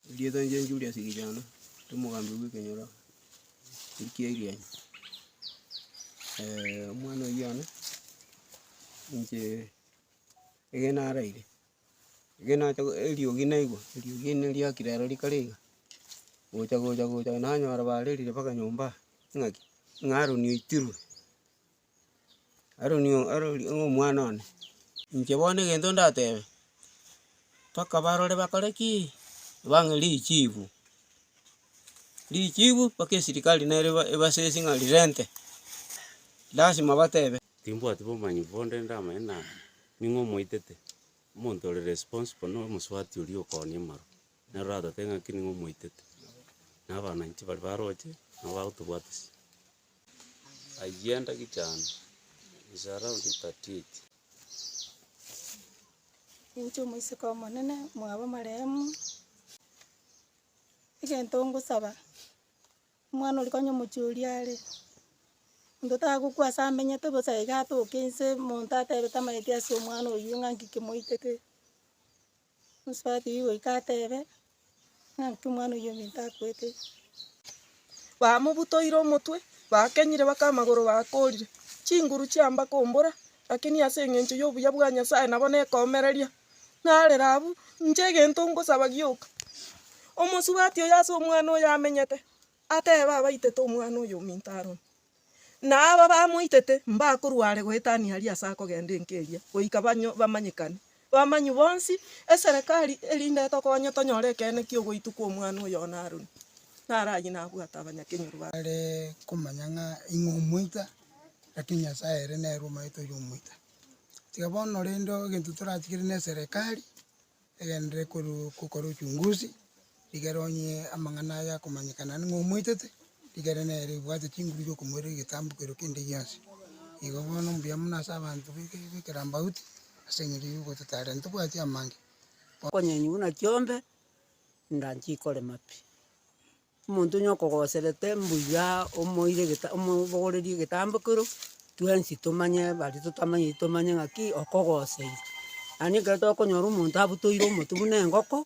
Erieta inche Juliasi Kijana, ere omogambi bw'ekenyoro erio ki'Airianyi. omwana oyio one, inche ekero naraire, ekero nacha go- eriogi naigwa, eriogi eri nari riakire aro rikare iga, gocha gocha gocha nanyora barerire mpaka nyomba aa, ng'aki ng'a Aaron oitirwe. Aroni oo arori oo omwana one, inche bono egento ndatebe, mpaka barore bakore ki? Bang'e richibu, richibu mpaka esirikari nere eba- ebasesi ng'a rirente, lasima batebe. Timbwati bomanyeku bonde ndamanye na ning'o omoitete, omonto ore responsible na omosubati oria okoonia amarwa, nere oratotebe ng'aki ning'o omoitete, na abana inche bari baroche, nabo bagotobwatisia. Ayio endagechano is around thirty eight. Ninche omoiseke omonene mwabo amarehemu, egento ngosaba, omwana oria konya omochie oria are, monto tagokwa ase amenyete bosa iga atoke inse monto atebete amaeti ase omwana oyio ng'a nki kimoitete, Omosubati oyio goika atebe, ng'aki omwana oyio ominto akoete iga. Bamobutoire omotwe, bakenyire mpaka amagoro bakorire, chinguru chiamba kombora, lakini ase eng'encho y'obuya bwa Nyasaye nabo nekomereria. Narera abwo, inche egento ngosaba gioka, omosubati oyo ase omwana oyo amenyete, atebe abaitete omwana oyo ominto aroro. Na aba bamoitete mbakorwa are goetania aria ase akogenda enka eria, goika banywe bamanyekane, bamanywe bonsi, eserekari erinde etokonye tonyore ekeene ki'ogoitwa kw'omwana oyo one Haroni, naro ayio nabwate abanyakenyoro baye. Are komanya ng'a ing'o omoika, lakini Nyasae ere nere omaete oyo omoika. Tiga bono rende egento torache kere neserekari, Egenderere korwa gokora ochunguzi, rigera onye amang'ana aya akomanyekana ng'a omoitete, rigera nere obwate chinguru chi'okomoirera egetambo keria kende gionsi. Igo bono mbuya mono ase abanto b'ekerambauti, ase eng'encho y'ogototaarera ntobwati amange. Okonyenywa buna chiombe, inga nchikore mapi. Omonto onye okogoserete mbuya omoire geta omobogorerie egetambo ekero twensi tomanye baria totamanyeti tomanye ng'aki okogoseire. Yaani ekero tokonyora omonto abutoire omotwe buna engoko,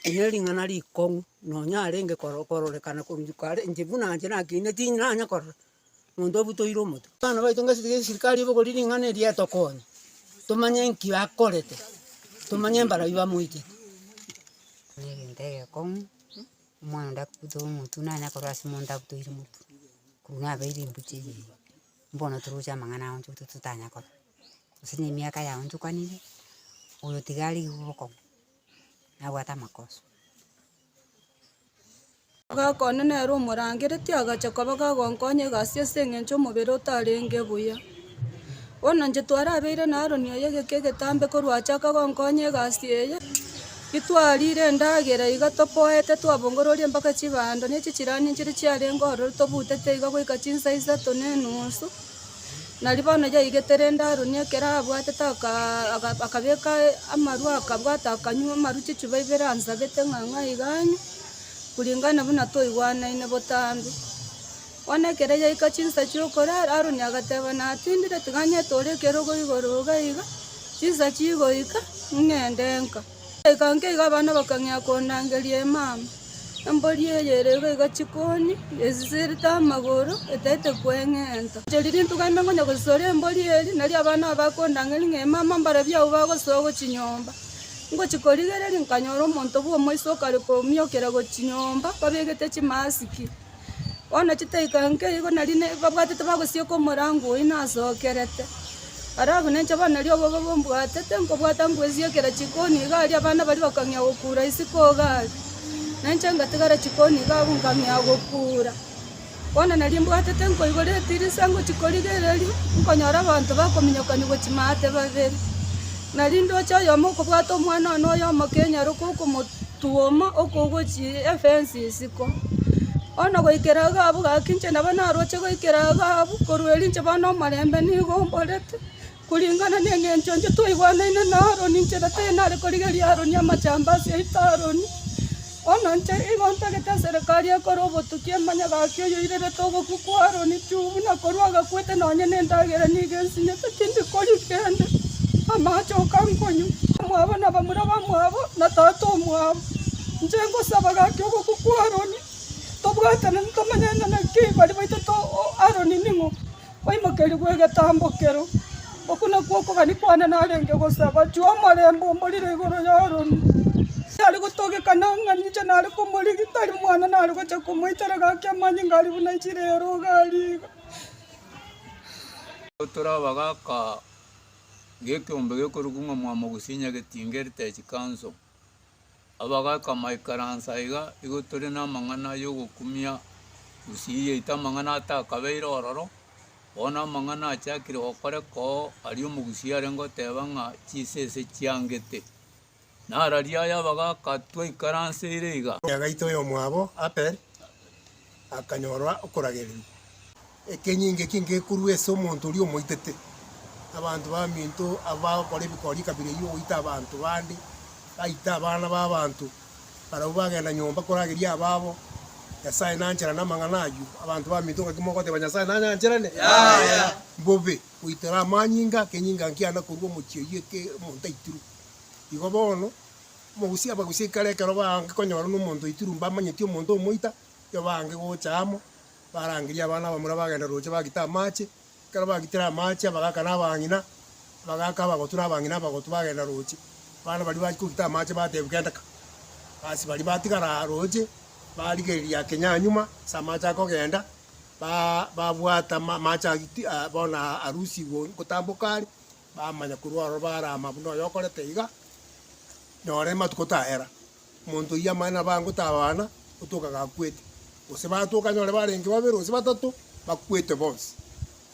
eri nering'ana rikong'u nonya arenge koro kororekana korwa riko are inche buna inche nakiine tinanye korora omonto obutoire omotwe. Abana baito ngasi tiga esirikari ebogorire ring'ana eri etokonye, tomanye nki akorete, tomanye mbarabi bamoitete. Nere ntegekong'u. Omwana onde agote omotwe naye nakorwa ase omonto agotoire omotwe, korwa nabeire embuchi eye iga, mbono toroche amang'ana ao intwe tototanya korwa, gose na emiaka yao intwe kwanire, oyo tiga are iga obokong'u, nabwate amakoso. Goka one nere omorangereti agacha koba gagonkonya egasi ase eng'encho omobere otarenge buya. Bono inche twarabeire na Aroni oyo egeka egetambe korwa achaka gonkonya egasi eye, intwarire endagera iga topoete twabongororia mpaka chibando ne chichrani chire chiarenge ororo tobutete iga goika chinsa isato ne enusu. Nari bono yaigete rende Aroni ekero abwatete akaa aka- akabeka amarwa akabwata akanywa amarwa chichupa ibere ansabete ng'a ng'ai iga anywe, kuringana buna twaigwanaine botambe. Bono ekero yaika chinsa chi'okorara, Aroni agateba, Natindire, tiga ng'ete ore ekerogo igoro iga iga, chinsa chigoika, ng'ende nka. Goika nka iga abana bakang'ea kondangeria emama. Embori eye ere iga iga chikoni, esisirete amagoro, etaete kweng'enta. Ncheri rintuko ime ngonya gosisore embori eri, nari abana aba bakondangeria ng'a emama mbarabwo agwo bagosoa agwo chinyomba. Ngochia korigereria, nkanyora omonto bw'omoisa okare komiokera agwo chinyomba, babegete chimasiki. Bono chitaika nkeigo nari ne babwatete bagosioka omorango oyio nasokerete. Ara abwo nenche bono nari obobe mbwatete nkobwata nkoesiokera chikoni iga aria abana baria bakang'ea gokura isiko iga aria. Nenche ngatigara chikoni iga abwo nkang'ea gokura. Bono nari mbwatete nkoigora etirisa ngochia korigereria, nkonyora abanto bakominyokania gochia maate babere. Na rindooche oyomo okobwata omwana one oyomo kenyaroka okomotuoma okogochia efensi isiko, bono goikera iga abwo gaki inche nabo naroche goikera iga abwo, korwa erio inche bono omorembe nigo omborete, kuringana neng'encho intwe twaigwanaine na Aroni, inche natinyare korigeria Aroni amachamba ase yaito Aroni. Onainche igo ntagete eserekari ekore obotuki emanye gaki oyoirerete ogokwa kwa Aroni, tiu buna korwa agakwete nonye nendagera nigo ensinyete, tindi koria kende amache okankonywa. Omwabo na bamura bamwabo na tata omwabo, inche ngosaba gaki ogokwa kwa Aroni tobwatanane tomanyane naki baria baitete Aroni ning'o. Kwaimokeria gw'egetambokero, oko nakwo okogania kwane narenge gosaba, Chie omorembe omorire igoro y'Aroni. Nare gotogeka na ng'a ninche nare komorigia, tari mwana nare gocha komoitera gaki amanyinga aria buna chire ya rogari iga. Gotora abagaka ng'ekeombe gekorokigwa ng'a Mwamogusinya Getinge Heritage Council. Abagaaka amaikaransa aiga, igo tore namang'ana yogokumia gusii yaito, amang'ana atakabeire ororo. Bono amang'ana achakire gokoreka oo, aria omogusii arenge goteba ng'a chisese chiangete. Nararia aya abagaaka twaikaranseire iga. Omoyagaito oyomwabo Abel. akanyora okoragererigwa. Ekenyinga eki ngekorua ase omonto oria omoitete. Abanto baminto abagokora ebikori ekabira eyio, goita abanto bande, baita abana b'abanto, barabwo bagenda nyomba korageria ababo. Nyasae nancharane amang'ana ayio. Abanto baminto ngaki mogoteba Nyasae nanyancharane? Yaya! Mbobe! Goitera amanyinga, ekenyinga nkiana korua omochie oyio eke omonto aitirwe. Igo bono. Omogusia abagusie ekero ekero baange konyora nomonto oitirwe mbamanyeti omonto omoita, erio baange gocha amo, barangerie abana abamura bagenda roche bagite amache, ekero bagitire amache abagaka na abang'ina, abagaka abagotu na abang'ina abagotu bagenda roche, abana baria bachia kogita amache bateebwa kendeka, basi baria batigara aa roche, barigereria kenya nyuma ase amache akogenda, baa babwata ma amache agiti bono aa arusigwe gotamboka are, Bamanya korwa aroro barama buna oyo okorete iga, noro ematuko tayera, omonto oyio amanye nabo ango tabana gotoka gakwete, gose batoka anyore barenge babere gose batato bakwete bonsi.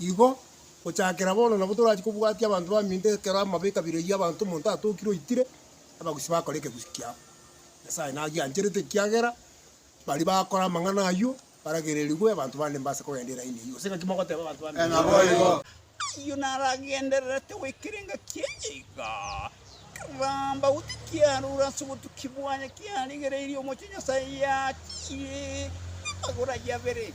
Igo gochakera bono nabo torachi kobwatia abanto baminto ekero amabe ekabira eyio abanto omonto atokire oitire, abagusii bakora ekegusii kiabo. Nyasae nagiancherete ekiagera baria bakora amang'ana ayio Baragererigwe abanto bande mbase kogenda eraini eyio, gose ng'aki mogoteeba abanto bande? Ee, naboigo. Ayio naragendererete goikera engaki eye iga, keramba gotyo kiarure ase obotuki bwaye kiarigereirie omochie Nyasae yachire amagoro aye abere.